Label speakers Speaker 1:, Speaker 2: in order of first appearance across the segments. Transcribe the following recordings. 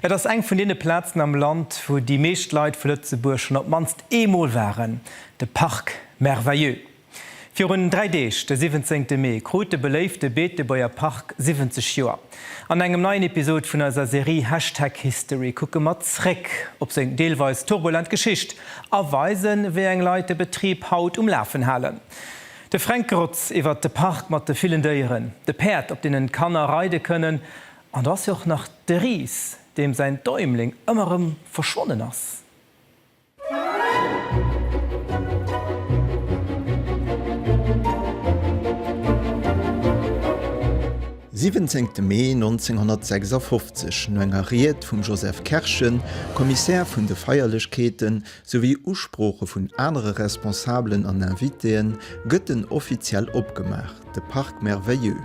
Speaker 1: Et ass eng vun deene Plazen am Land, wou déi meescht Leit vu Lëtzebuerg schonn op d'mannst ee Mol waren, de Parc Merveilleux. Virun dräi Deeg, de 17 Mee, krut de beléifte Beetebuerger Park 70 Joer. An engem neien Episod vun eiser Serie Hashtag History kucke mer zréck op seng deelweis turbulent Geschicht a weisen, wéi eng Leit de Betrib haut um Lafen halen. De Fränk Grotz iwwert de Park mat de villen Déieren, de Päerd, op deenen d'Kanner reide kënnen, An do ass jo och nach de Ris, deem säin Däumling ëmmer erëm verschwonnen ass.
Speaker 2: Siwwenzéngte Mee 1956, no enger Ried vum Joseph Kerschen, Kommissär vun de Feierlechkeeten, souwéi Usprooche vun anere Responsabelen an Invitéen, gëtt en offiziell opgemaach, de Parc Merveilleux.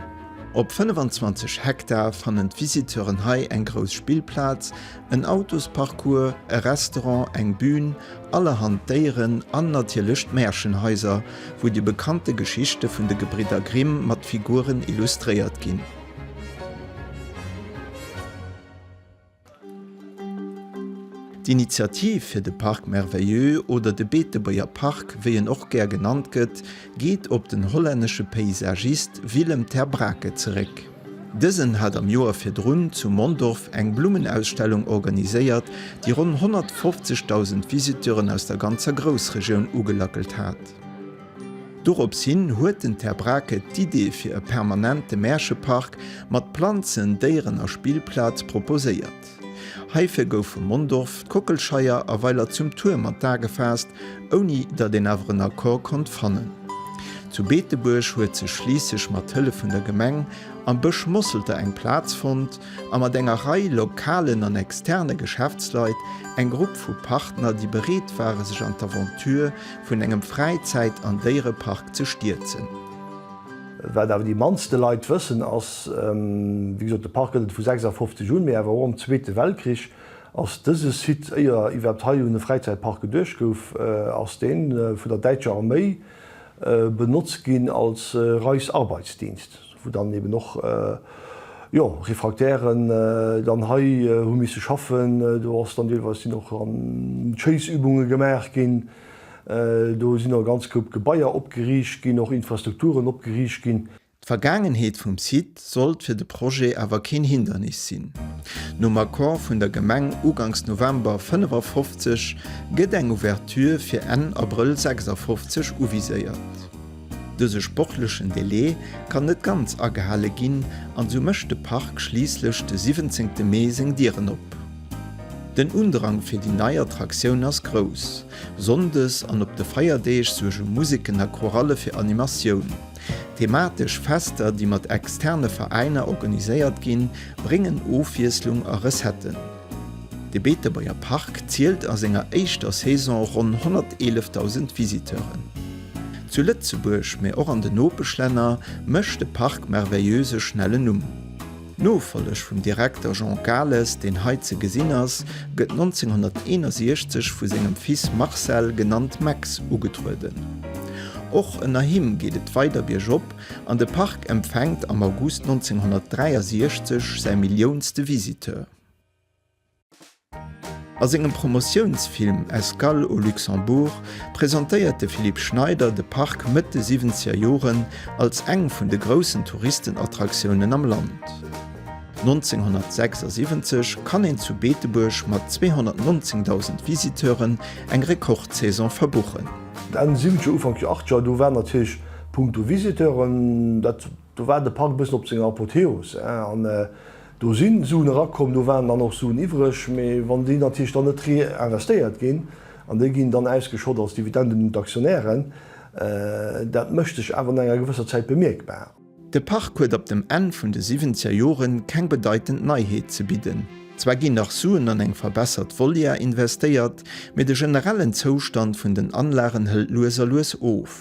Speaker 2: Op 25 Hektar fannen d'Visiteuren hei eng grouss Spillplaz, en Autosparcours, e Restaurant, eng Bühn, allerhand Déieren an natierlech d'Märchenhaiser, wou déi bekannte Geschichte vun de Gebridder Grimm mat Figuren illustréiert ginn. D'Initiativ fir de Parc Merveilleux, oder de Beetebuerger Park, wéi en och gär genannt gëtt, geet op den hollännesche Paysagist Willem ter Braake zeréck. Dësen hat am Joer virdrun zu Mondorf eng Blummenausstellung organiséiert, déi ronn 150.000 Visiteuren aus der ganzer Groussregioun ugelackelt hat. Dorops hin huet den Ter Braake d'Idee fir e permanente Märchepark mat Planzen, Déieren a Spillplaz proposéiert. Heifir goufe Mondorf, d'Kockelscheier a Weiler zum Tuerm an d'A gefaasst, ouni datt een awer en Accord konnt fannen. Zu Beetebuerg huet sech schliisslech mat Hëllef vun der Gemeng am Bësch Mosselter eng Plaz fonnt a mat enger Rei lokalen an externe Geschäftsleit eng Grupp vu Partner, déi bereet ware sech an d'Aventure vun engem Fräizäit an Déierepark ze stierzen.
Speaker 3: Wat awer déi mannste Leit wëssen ass, wéi gesot, de Park gëtt et vu 56 un, mee awer och am Zweete Weltkrich ass dëse Site, éier iwwerhaapt hei un e Fräizäitpark geduecht gouf, ass dee vun der däitscher Arméi benotzt ginn als Reichsarbeitsdienst. wou dann eben och jo Refractairen dann hei hu misse schaffen, do ass dann deelweis sinn och an Chase-Übunge gemaach ginn, do sinn och e ganz Koup Gebaier opgeriicht ginn, och Infrastrukturen opgeriicht ginn. D'Vergaangenheet vum
Speaker 2: Site sollt fir de Projet awer keen Hindernis sinn. Nom Accord vun der Gemeng ugangs November 55 gëtt eng Ouverture fir Enn Abrëll 56 uviséiert. Dëse sportlechen Delai kann net ganz agehale ginn an sou mécht de Park schliisslech de 17 te Mee seng Dieren op. Den Undrang fir déi nei Attraktioun ass grouss. Sonndes an op de Feierdeeg suerge Museken a Choralle fir Animatioun. Thematesch Fester, déi mat externe Veräiner organiséiert ginn, bréngen Ofwiesslung a Recetten. De Beetebuerger Park zielt a senger éischter Saison ronn 111.000 Visiteuren. Zu Lëtzebuerg, mee och an den Nopeschlänner, mécht de Parc Merveilleuse e schnellen Numm. D'Nofolleg vum Direkter Jean Cales, deen hei ze gesinn ass, gëtt 1961 vu sengem Fils Marcel, genannt Max, ugetrueden. Och ënner him geet et weider biergop An de Park empfänkt am August 1963 säi milliounste Visiteur. A sengem Promotiounsfilm Escale au Luxembourg presentéiert de Philippe Schneider de Park Mëtt de siwwenzeger Joren als eng vun de groussen Touristenattraktiounen am Land. 1976 kann een zu Beetebuerg mat 219.000 Visiteuren eng Rekordsaison verbuchen. Enn siwwenzeger,
Speaker 3: Ufank achtzeger, do war natierlech Punkto Visiteuren, dat, do war de Park e bëssen op senger Apotheos. An do si Suen erakomm, do waren dann och Suen iwwreg, mee wann déi natierlech dann net reinvestéiert ginn an déi ginn dann ausgeschott als Dividenden un d'Aktionären, dat mécht sech awer no enger gewësser Zäit bemierkbar. De Park huet
Speaker 2: op dem Enn vun de siwwenzeger Jore keng bedeitend Neiheet ze bidden. Zwar ginn nach Suen an eng verbessert Volière investéiert, mee de generellen Zoustand vun den Anlagen hëlt lues a lues of.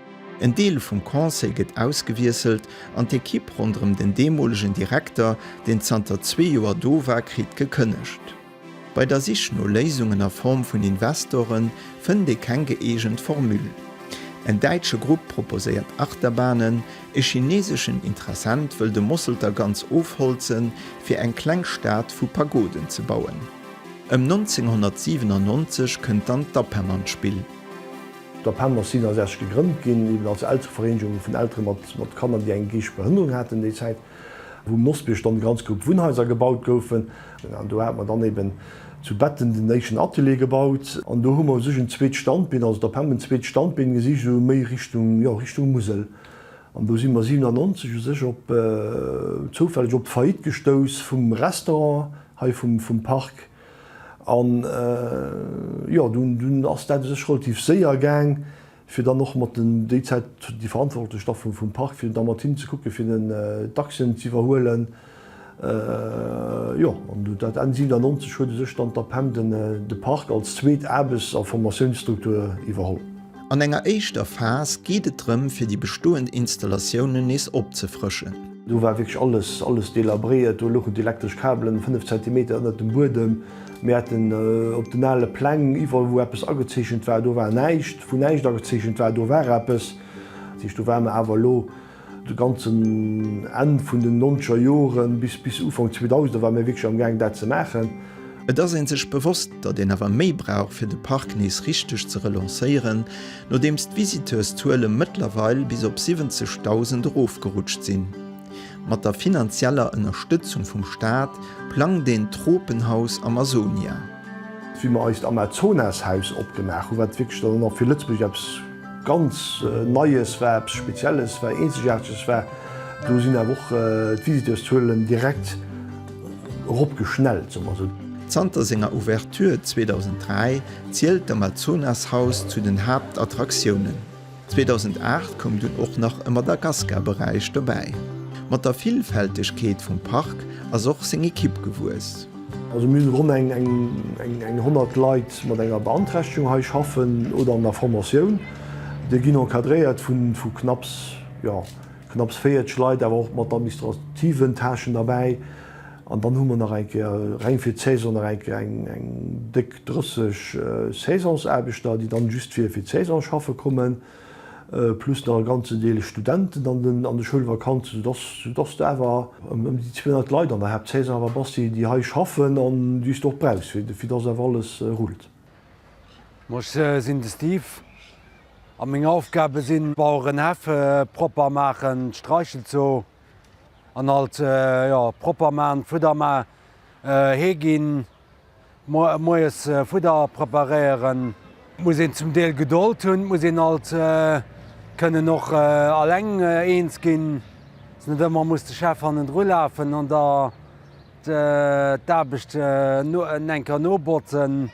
Speaker 2: En Deel vum Conseil gëtt ausgewiesselt an d'Ekipp ronderëm den deemolegen Direkter, deen zanter zwee Joer do war, kritt gekënnegt. Bei der Sich no Léisungen a Form vun Investorë fënnt ee keng gëeegent Formule. En däitsche Grupp proposéiert Achterbahnen, e chineeseschen Interessent wëll de Mosselter ganz ofholzen, fir eng kleng Stad vu Pagoden ze bauen. Ëm 1997 kënnt dann d'APEM an d'Spill. D'APEMA
Speaker 3: sinn 60 gegrënnt ginn, eben als Elterevereenegung vun Eltere mat Kanner, déi eng geeschteg Behënnerung haten, déi Zäit, wou um Nosbierg dann e ganz Grupp Wunnhaiser gebaut goufen. An do hate mer dann eben zu Betten den éischten Atelier gebaut. An do hu mer u sech en zweet Standbeen, also d'APEMA en zweet Standbeen gesicht, esou méi Richtung, jo, Richtung Musel. An do si mer 97 u sech op, zoufälleg op d'Faillite gestouss vum Restaurant hei vum Park. An jo, dunn ass dat u sech relativ séier gaang, fir dann och mat den, déi Zäit déi Verantwortlech da vum Park, fir da mat hinnen ze kucken, fir den Dachsen z'iwwerhuelen. Jo, an dat Enn 1997 huet u sech dann d'APEM de Park als zweet Aarbechts a Formatiounsstruktur iwwerholl. An enger éischter
Speaker 2: Phas geet et drëm fir déi bestoend Installatiounen nees opzefrëschen. Do war wierklech
Speaker 3: alles alles delabréiert. Do louchen d'elektresch Kabelen 5 Zentimeter ënnert dem Buedem. Mir haten op den ale Pläng iwwerall wou eppes agezeechent war, do war näischt. Wou näischt agezeechent war, do war eppes. Dat heescht do ware mer awer elo. De ganzen Enn vun den nonzeger Joren bis bis Ufank 2000er war mir wierklech am Gaang dat ze maachen. Et ass ee sech
Speaker 2: bewosst, datt een awer méi brauch fir de Park nees richteg ze relancéieren, nodeems d'Visiteurszuele mëttlerweil bis op 70.000 erofgerutscht sinn. Mat der finanzieller Ënnerstëtzung vum Staat plangt een d'Tropenhaus Amazonia. Wéi mer
Speaker 3: eist Amazonas-Haus opgemaach hu wat wierklech dann och fir Lëtzebuerg eppes. Ganz Neies war, eppes Spezielles war, Eenzegaarteges war, do sinn awer och d'Visiteurszuelen direkt eropgeschnellt, soe mer esou.
Speaker 2: Zanter senger Ouverture 2003 zielt d'Amazonashaus zu den Haaptattraktiounen. 2008 koum dunn och nach e Madagascar-Beräich dobäi. Mat der Villfältegkeet vum Park ass och seng Ekipp gewuess. Also mir sinn ronn
Speaker 3: eng 100 Leit mat enger Beanträchtegung hei schaffen oder an der Formatioun. Déi ginn encadréiert vu knapps, jo, knapps 40 Leit, awer och mat administrativen Tâchen derbäi. An dann hu mer nach eng Kéier, reng fir d'Saison, nach eng Kéier eng déck 30 Saisonsaarbechter, déi dann just fir d'Saison schaffe kommen. plus nach e ganzen Deel Studenten an den an de Schoulvakanzen, sou dass sou dass de awer ëm ëm déi 200 Leit an der Haaptsaison awer bass, déi déi hei schaffen an déi s de och brauchs, fir fir dass awer alles rullt. Bon,
Speaker 4: ech sinn de Steve a meng Aufgabe sinn Baueren hellfe propper maachen, d'Streichel zo an alt, jo, propper man, Fudder man, Hee ginn, Moies Fudder preparéieren. Muss een zum Deel Gedold hunn, muss een alt kënnen och alleng eens ginn, dass net ëmmer muss de Chef hannendru lafen an der d'Aarbecht enker nobotzen.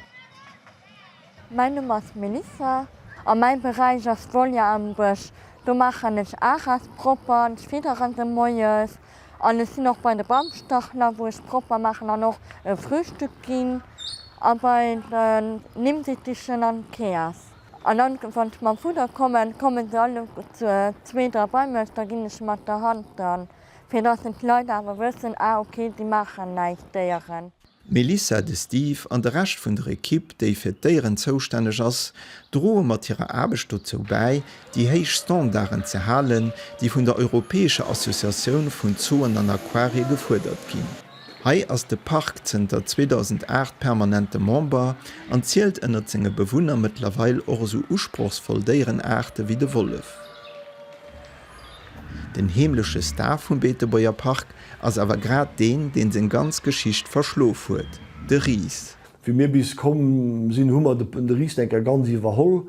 Speaker 5: Mäin Numm ass Melissa. A mäi Beräich ass d'Volière am Bësch. Do maachen ech Aras propper, ech fiddere se moies an ech sinn och bei de Bamstachler, wou ech propper maachen an och e Frühstück ginn a bei den Nimmdittichen an d'Keas. An dann, wann ech mam Fudder kommen, komme se all zwee, dra bei mech, da ginn ech mat der Hand dran, fir dass en d'Leit awer wëssen, ah ok, si maachen näischt, d'Déieren. D'Melissa, de
Speaker 2: Steve an de Rescht vun der Ekipp, déi fir d'Déieren zoustänneg ass, droe mat hirer Aarbecht dozou bäi, déi héich Standarden ze halen, déi vun der europäescher Associatioun vun Zooen an Aquarie gefuerdert ginn. Hei ass de Park zënter 2008 permanente Member an zielt ënnert senge Bewunner mëttlerweil och esou usprochsvoll Déierenaarte wéi de Wollef. Den heemleche Star vum Beetebuerger Park ass awer grad deen, deen seng ganz Geschicht verschlof huet, de Ris. Wéi mir bis komm
Speaker 3: sinn, hu mer de Ris enker ganz iwwerholl.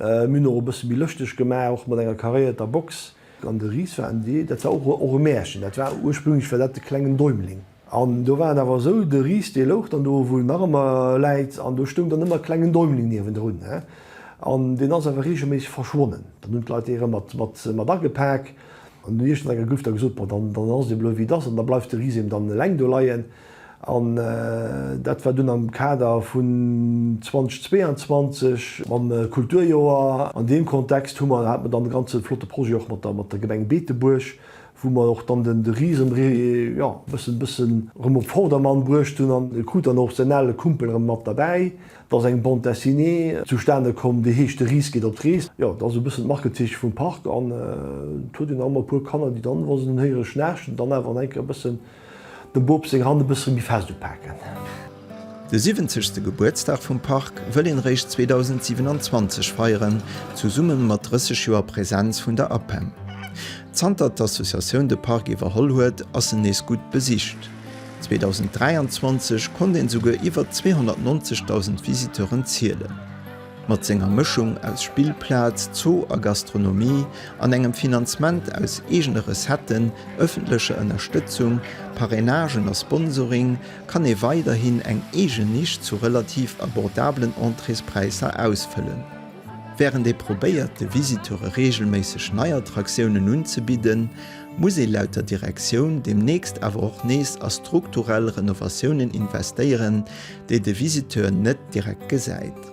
Speaker 3: Mir hunn och e bësse méi lëschteg gemaach, och mat enger karéierter Box. An de Ris war en Dee, dat war och e Mäerchen, dat war ursprünglech war dat de klengen Däumling. An do war et awer esou, de Ris dee louch dann do, wou en nach ëmmer läit, an do stoung dann ëmmer e klengen Däumling niewendrun, an deen ass awer reegelméisseg verschwonnen. Dann hunn d'Leit dee rëm mat agepak an hunn iergend an enger Grüft da gesot, Bon, dann ass et eben elo wéi et ass, an da bleift de Ris eben dann eleng do leien. An dat war dunn am Kader vun 2022 mam Kulturjoer. An deem Kontext hu mer, hate mer dann e ganze flotte Projet och mat der Gemeng Beetebuerg, wou mer och dann den de Ris erëm jo bëssen bëssen erëm op Vordermann bruecht hunn an e krut dann och säin ale Kumpel erëm mat derbäi. Da ass eng Bande dessinée zustane komm, déi heescht De Ris geet op d'Rees. Jo, dat ass e bëssen d'Markezeeche vum Park an et huet een erëm e puer Kanner, déi dann, wa se en héiere schnaarchen, dann awer an eng Kéier e bëssen Dem Boob seng Hand e bësse méi fest upaken. De
Speaker 2: siwwenzegste Gebuertsdag vum Park wëll een eréischt 2027 feieren, zesumme mat 30 Joer Präsenz vun der APEM. Zanter d'Associatioun de Park iwwerholl huet, ass en nees gutt besicht. 2023 konnt een souguer iwwer 290.000 Visiteuren zielen. Mat senger Mëschung aus Spillplaz, Zoo a Gastronomie an engem Finanzement aus eegene Recetten, ëffentlecher Ënnerstëtzung, Parrainagen a Sponsoring kann ee weiderhin eng eegen Nisch zu relativ abordabelen Entréespräisser ausfëllen. Wärend ee probéiert de Visiteure reegelméisseg nei Attraktiounen unzebidden, muss ee laut der Direktioun deemnächst awer och nees a strukturell Renovatiounen investéieren, déi de Visiteur net direkt gesäit.